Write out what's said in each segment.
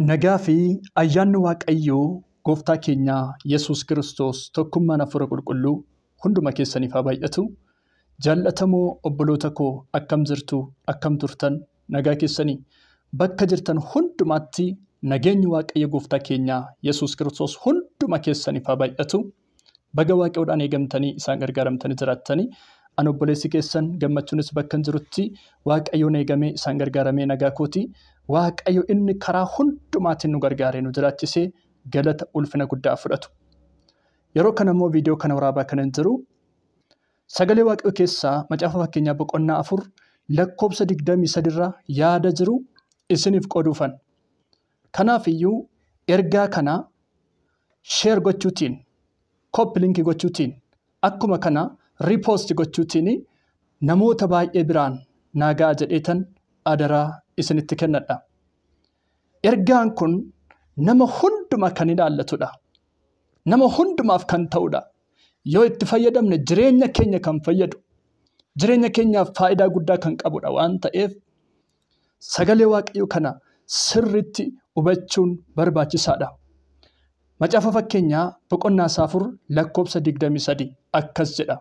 Nagaa fi ayyaanni Waaqayyoo gooftaa keenya Yesuus Kiristoos tokkummaan Hafuura Qulqulluu hunduma keessaniif haa baay'atu. Jaallatamoo obboloota koo akkam jirtu? Akkam turtan? Nagaa keessanii? Bakka jirtan hundumaatti nageenyi Waaqayyo gooftaa keenya Yesuus Kiristoos hunduma keessaniif haa baay'atu. Baga Waaqayyoodhaan eegamtanii isaan gargaaramtanii jiraattanii. Ani obboleessi keessan gammachuunis bakkan jirutti Waaqayyoon eegamee isaan gargaaramee nagaa kooti. Waaqayyo inni karaa hundumaatiin nu gargaaree nu jiraachisee galata ulfina guddaa fudhatu. Yeroo kana immoo viidiyoo kana waraabaa kanan jiru sagalee Waaqayyo keessaa macaafa fakkeenyaa boqonnaa afur lakkoobsa digdamii sadiirraa yaada jiru isiniif qooduufan. Kanaaf iyyuu ergaa kana share gochuutiin, copy link gochuutiin, akkuma kana repost gochuutiin namoota baay'ee biraan naa ga'a jedheetan adaraa isinitti kennadha. Ergaan kun nama hunduma kan ilaallatudha. Nama hundumaaf kan ta'udha. Yoo itti fayyadamne jireenya keenya kan fayyadu, jireenya keenyaaf faayidaa guddaa kan qabudha waan ta'eef Sagalee Waaqayyoo kana sirriitti hubachuun barbaachisaadha. Macaafa Fakkeenyaa boqonnaa isaa 4 lakkoofsa 23 akkas jedha.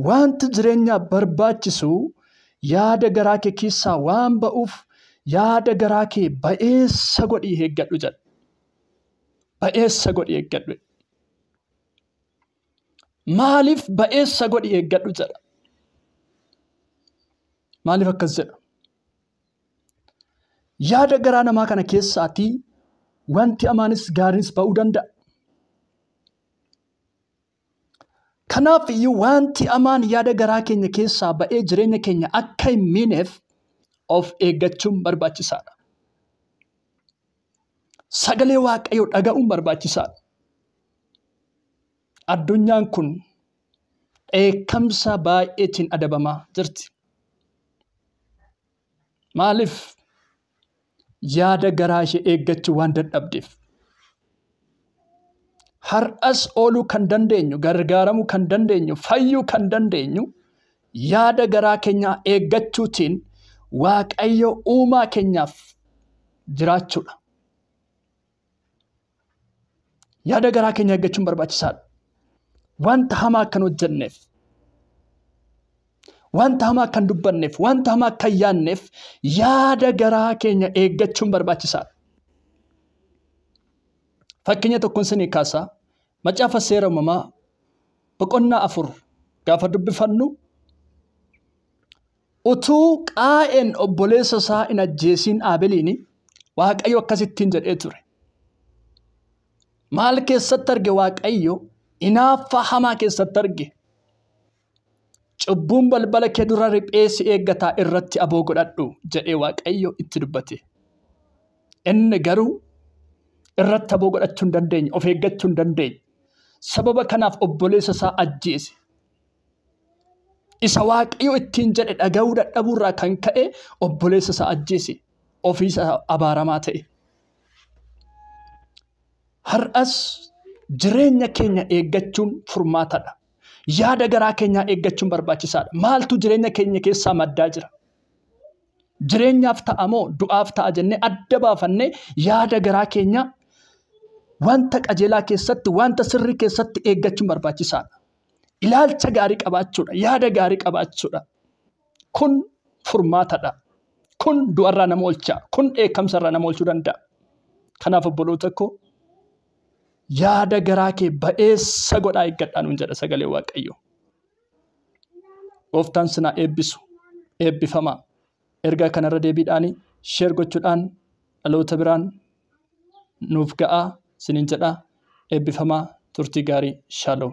Wanti jireenyaaf barbaachisu yaada garaa kee keessaa waan ba'uuf yaada garaa kee ba'eessa godhii eeggadhu jedha. Ba'eessa godhii eeggadhu. Maaliif ba'eessa godhi eeggadhu jedha? Maaliif akkas jedha? Yaada garaa namaa kana keessaatii wanti amaanis gaariinis ba'uu danda'a. Kanaaf iyyuu wanti amaan yaada garaa keenya keessaa ba'ee jireenya keenya akka hin miineef of eeggachuun barbaachisaadha. sagalee waaqayyoo dhaga'uun barbaachisaadha. Addunyaan kun dheekkamsa baay'eetiin adabamaa jirti. Maaliif? Yaada garaa ishee eeggachuu waan dadhabdeef. Har'as ooluu kan dandeenyu, gargaaramuu kan dandeenyu, fayyuu kan dandeenyu Yaada garaa keenyaa eeggachuutiin Waaqayyo uumaa keenyaaf jiraachuudha. Yaada garaa keenya eeggachuun barbaachisaadha. Wanta hamaa akkan hojjenneef, wanta hamaa akkan dubbanneef, wanta hamaa akkan yaanneef yaada garaa keenya eeggachuun barbaachisaadha. Fakkeenya tokkoon sinii kaasaa Macaafa Seera Uumamaa boqonnaa afur gaafa dubbifannu utuu qaa'een obboleessa isaa hin ajjeesiin aabeliin waaqayyo akkasittiin jedhee ture. Maal keessatti arge waaqayyo inaaffaa hamaa keessatti arge. Cubbuun balbala kee dura riphee si eeggata irratti aboo godhadhu jedhee Waaqayyo itti dubbate. Inni garuu irratti aboo godhachuu hin dandeenye, of eeggachuu hin dandeenye. Sababa kanaaf obboleessa isaa ajjeese. Isa Waaqayyo ittiin jedhe dhaga'uu dadhabuu irraa kan ka'e obboleessa isaa ajjeese. Ofii isaa abaaramaa ta'e. Har'as jireenya keenya eeggachuun furmaatadha. Yaada garaa keenyaa eeggachuun barbaachisaadha. Maaltu jireenya keenya keessaa maddaa jira? Jireenyaaf ta'a moo du'aaf ta'a jennee adda baafannee yaada garaa keenyaa wanta qajeelaa keessatti, wanta sirrii keessatti eeggachuun barbaachisaadha. Ilaalcha gaarii qabaachuudha, yaada gaarii qabaachuudha. Kun furmaatadha. Kun du'arraa nama oolcha. Kun dheekkamsarraa nama oolchuu danda'a. Kanaaf obboloota koo yaada garaa kee ba'eessa godhaa eeggadhaa nuun jedha sagalee waaqayyo. Gooftaan sinaa eebbisu eebbifamaa ergaa kanarra deebiidhaan sheer gochuudhaan dhaloota biraan nuuf ga'aa sinin jedha eebbifamaa turtii gaarii shaaloo.